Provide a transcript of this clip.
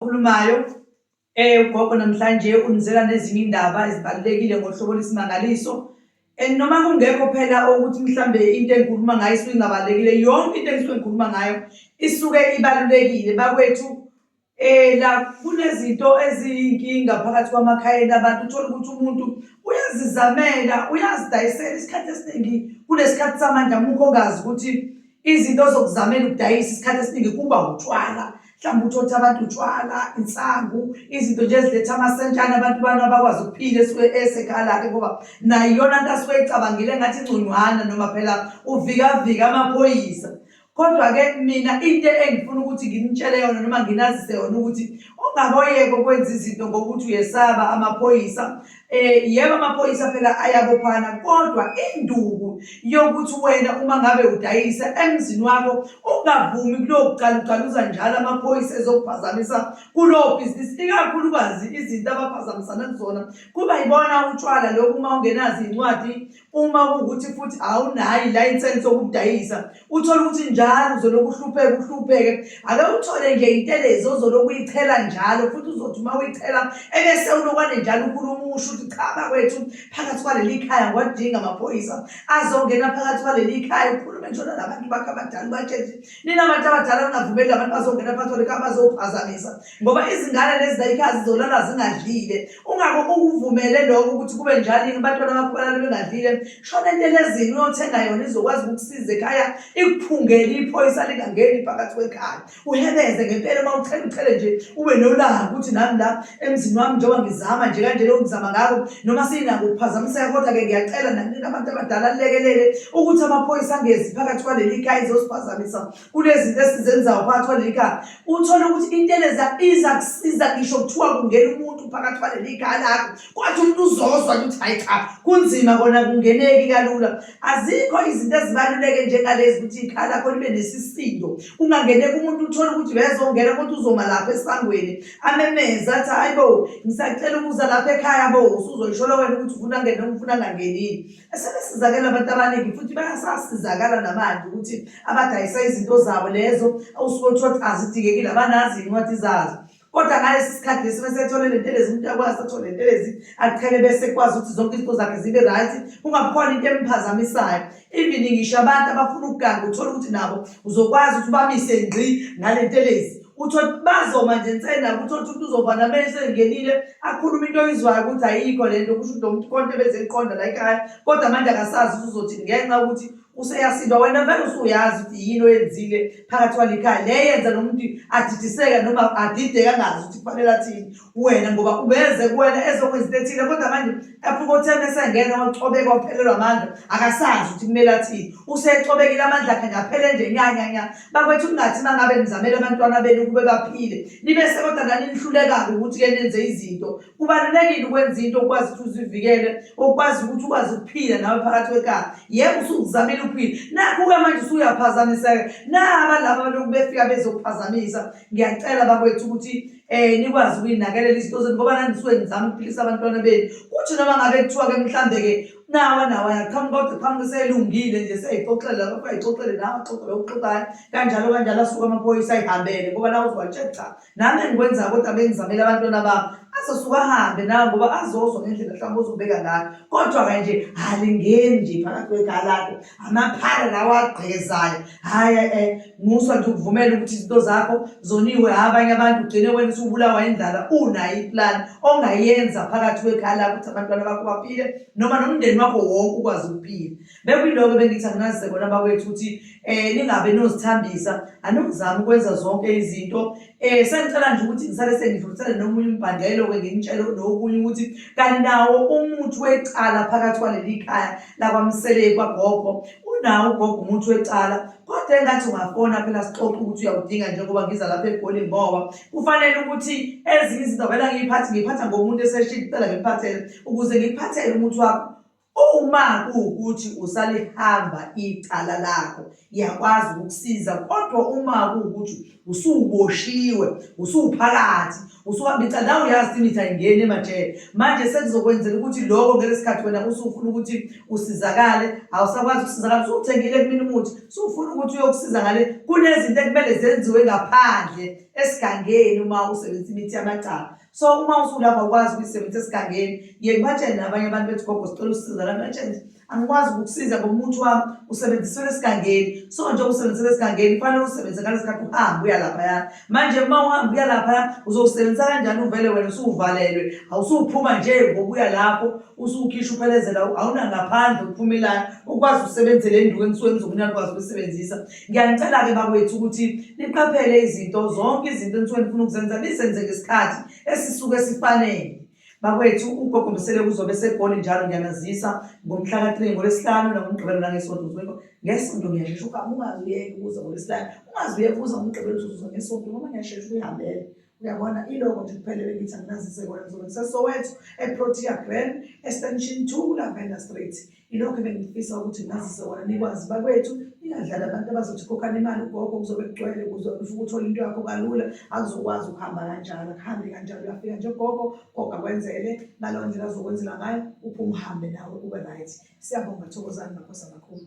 okhulumayo eh ugogo namhlanje unizela nezinye indaba ezibalekile ngohlobo lesimangaliso and noma kungekho phela ukuthi mhlambe into engikhuluma ngayo isuke ingabalekile yonke into engisuke ngikhuluma ngayo isuke ibalulekile bakwethu Eh la kunezinto eziyinkinga phakathi kwamakhayeni abantu uthola ukuthi umuntu uyazizamela uyazidayisela isikhathi esiningi kunesikhathi samanje amukho ongazi ukuthi izinto zokuzamela ukudayisa isikhathi esiningi kuba utshwala mhlawumbe uthotha abantu utshwala insangu izinto nje eziletha amasentshane abantu bana bakwazi ukuphila esuke esekhala-ke ngoba nayo iyona nto asuke ecabangile ngathi inconywana noma phela uvikavika amaphoyisa Kodwa-ke mina into engifuna ukuthi nginitshele yona noma nginazise yona ukuthi ungaboyeke ukwenza izinto ngokuthi uyesaba amaphoyisa eh yebo amaphoyisa phela ayabophana kodwa induku yokuthi wena uma ngabe udayisa emzini wakho ungavumi kulokucalucaluza njalo amaphoyisa ezokuphazamisa kulowo bhizinisi ikakhulukazi izinto abaphazamisana kuzona kuba yibona utshwala lokhu uma ungenazi incwadi uma kuwukuthi futhi awunayo ilayisensi yokudayisa uthole ukuthi njalo uzolokhu uhlupheke uhlupheke ake uthole nje intelezi ozolokhu uyichela njalo futhi uzothi uma uyichela ebese ulokwane njalo ukhuluma usho ukuthi cha bakwethu phakathi kwaleli khaya ngiwadinga amaphoyisa azongena phakathi kwaleli khaya ukhulume njalo nabantu bakho abadala ubatshele ukuthi nina bantu abadala ningavumeli abantu bazongena phakathi kwaleli khaya bazophazamisa ngoba izingane lezi zayikhazi zolala zingadlile ungabe ukuvumele lokho ukuthi kube njalo yini abantwana bakho balala bengadlile shona entelezini uyothenga yona izokwazi ukukusiza ekhaya ikuphungele iphoyisa lingangeni phakathi kwekhaya uhebeze ngempela uma uthela uthele nje ube nolaka ukuthi nami la emzini wami njengoba ngizama nje kanje leyo ngizama ngako noma sinako ukuphazamiseka kodwa-ke ngiyacela nanini abantu abadala lekelele ukuthi amaphoyisa angezi phakathi kwaleli khaya izosiphazamisa kunezinto esizenzayo phakathi kwaleli khaya uthole ukuthi inteleza iza kusiza ngisho kuthiwa kungena umuntu phakathi kwaleli khaya lakho kwathi umuntu uzozwa ukuthi hayi cha kunzima kona kungeneki kalula azikho izinto ezibaluleke njengalezi ukuthi ikhaya lakho libe nesisindo kungangeneki umuntu uthole ukuthi uyazongena kodwa uzoma lapha esangweni amemeze athi hayi bo ngisacela ukuza lapha ekhaya bo usuzoyisholo wena ukuthi ufuna ngene ufuna ngangenini Sebesizakela abantu abaningi futhi bayasasizakala namanje ukuthi abadayisa izinto zabo lezo awusuke uthiwa ukuthi azidingekile abanazi iy'ncwadi zazo kodwa ngalesi sikhathi lesi mesethole le ntelezi umuntu akwazi athole le ntelezi aqhele bese ekwazi ukuthi zonke izinto zakhe zibe right kungabikhona into emphazamisayo even ngisho abantu abafuna ukuganga uthole ukuthi nabo uzokwazi ukuthi ubamise ngqi ngale ntelezi uthole ukuthi bazoma nje nsena ukuthi othi umuntu uzova namele sengenile akhulume into oyizwayo ukuthi ayikho le nto kusho ukuthi lo muntu konke bezeyiqonda la ekhaya kodwa manje akasazi ukuthi uzothi ngenxa ukuthi useyasinda wena vele usuyazi ukuthi yini oyenzile phakathi kwalikhaya le yenza nomuntu adidiseke noma adideke angazi ukuthi kufanele athini wena ngoba ubeze kuwena ezokwenza into ethile kodwa manje afike othena esengena wacobeka waphelelwa amandla akasazi ukuthi kumele athini usecobekile amandla akhe ngaphele nje nyanyanya bakwethu kungathi uma ngabe nizamele abantwana benu ukube baphile nibe sekodwa naninihluleka-ke ukuthi-ke nenze izinto kubalulekile ukwenza into okwazi ukuthi uzivikele okwazi ukuthi ukwazi ukuphila nawe phakathi kwekhala yebo usukuzamile ukuphila nakho-ke manje usuyaphazamiseka naba laba baloku befika bezokuphazamisa ngiyacela bakwethu ukuthi eh nikwazi ukuyinakelela izinto zenu ngoba nanisuke nizama ukuphilisa abantwana benu kuthi noma ngabe kuthiwa-ke mhlambe-ke nawa nawa yaqhamuka kodwa qhamuka selungile nje seyixoxela lokho ayixoxele nawe axoxele okuxoxayo kanjalo kanjalo asuke amaphoyisa ayihambele ngoba nawe uzowatshela cha nami engikwenza kodwa bengizamele abantwana bami azosuke ahambe nawe ngoba azozwa ngendlela mhlawumbe uzobeka ngayo kodwa-ke nje alingeni nje phakathi kwegalado amaphara lawa agqekezayo hhayi e eh, musa nje ukuvumela ukuthi izinto zakho zoniwe hha abanye abantu ugcine wena usubulawa indlala unayo iplani ongayenza phakathi kwekhaya lakho ukuthi abantwana bakho baphile noma nomndeni wakho wonke ukwazi ukuphila bekuyiloko bengithi anginazize kona bakwethu ukuthi um ningabe nozithambisa anokuzama ukwenza zonke izinto Eh sengicela nje ukuthi ngisale sengidlulisele nomunye umbhandelo ke ngimtshele nokunye ukuthi kanawo umuthi wecala phakathi kwaleli khaya lakwamseleku kwagogo unawo ugogo umuthi wecala kodwa engathi ungafona phela sixoxe ukuthi uyawudinga njengoba ngiza lapha egoli ngoba kufanele ukuthi ezinye izinto vela ngiyiphathe ngiyiphatha ngomuntu eseshini kucela ngikuphathele ukuze ngikuphathele umuthi wakho Uma kuwukuthi usalihamba icala lakho iyakwazi ukukusiza kodwa uma kuwukuthi usuwuboshiwe usuwuphakathi usuhamba icala nawe uyazi ukuthi imithi ayingeni emajele manje sekuzokwenzela ukuthi loko ngeke sikhathi wena usufuna ukuthi usizakale awusakwazi ukusizakala usuwuthengile kumina umuthi usufuna ukuthi uyokusiza ngale kunezinto ekumele zenziwe ngaphandle esigangeni uma usebenzisa imithi yamacala so uma usulapha ukwazi ukuyisebenzisa esigangeni ye ngibatshele nabanye abantu bethi gogo sicela usiza la ngibatshele angikwazi ukukusiza ngomuntu wami usebenzisela esigangeni so nje usebenzisela esigangeni kufanele usebenzise ngalesikhathi uhambe uya laphaya manje uma uhamba uya laphaya uzowusebenzisa kanjani uvele wena usuwuvalelwe awusuwuphuma nje ngokuya lapho usuwukhisha uphelezela awunangaphandle uphumelayo ukwazi usebenzele induku engisuke ngizokunika ukwazi ukuyisebenzisa Ngiyanicela-ke bakwethu ukuthi niqaphele izinto zonke izinto enisuke nifuna ukuzenza nizenze ngesikhathi esisuke sifanele bakwethu ugogo msele kuzobe segoli njalo ngiyanazisa ngomhla ka-three ngolwesihlanu nangomgqibelo nangesonto uzweko ngesonto ngiyashesha ukuhamba ungazi uyeke ukuza ngolwesihlanu ungazi uyeke ukuza ngomgqibelo uzuza ngesonto noma ngiyashesha ukuyihambela Uyabona iloko nje kuphele bengithi anginazise kona ngizobe ngiseSoweto eProtea Grand extension 2 Lavender Street ilokho ebengifisa ukuthi ngazise kona nikwazi bakwethu ingadlali abantu abazothi khokhani imali ugogo kuzobe kugcwele kuze ufike uthole into yakho kalula akuzokwazi ukuhamba kanjalo akuhambi kanjalo uyafika nje gogo gogo akwenzele ngaleyo ndlela azokwenzela ngayo uphume uhambe nawe ube right siyabonga thokozani makhosi amakhulu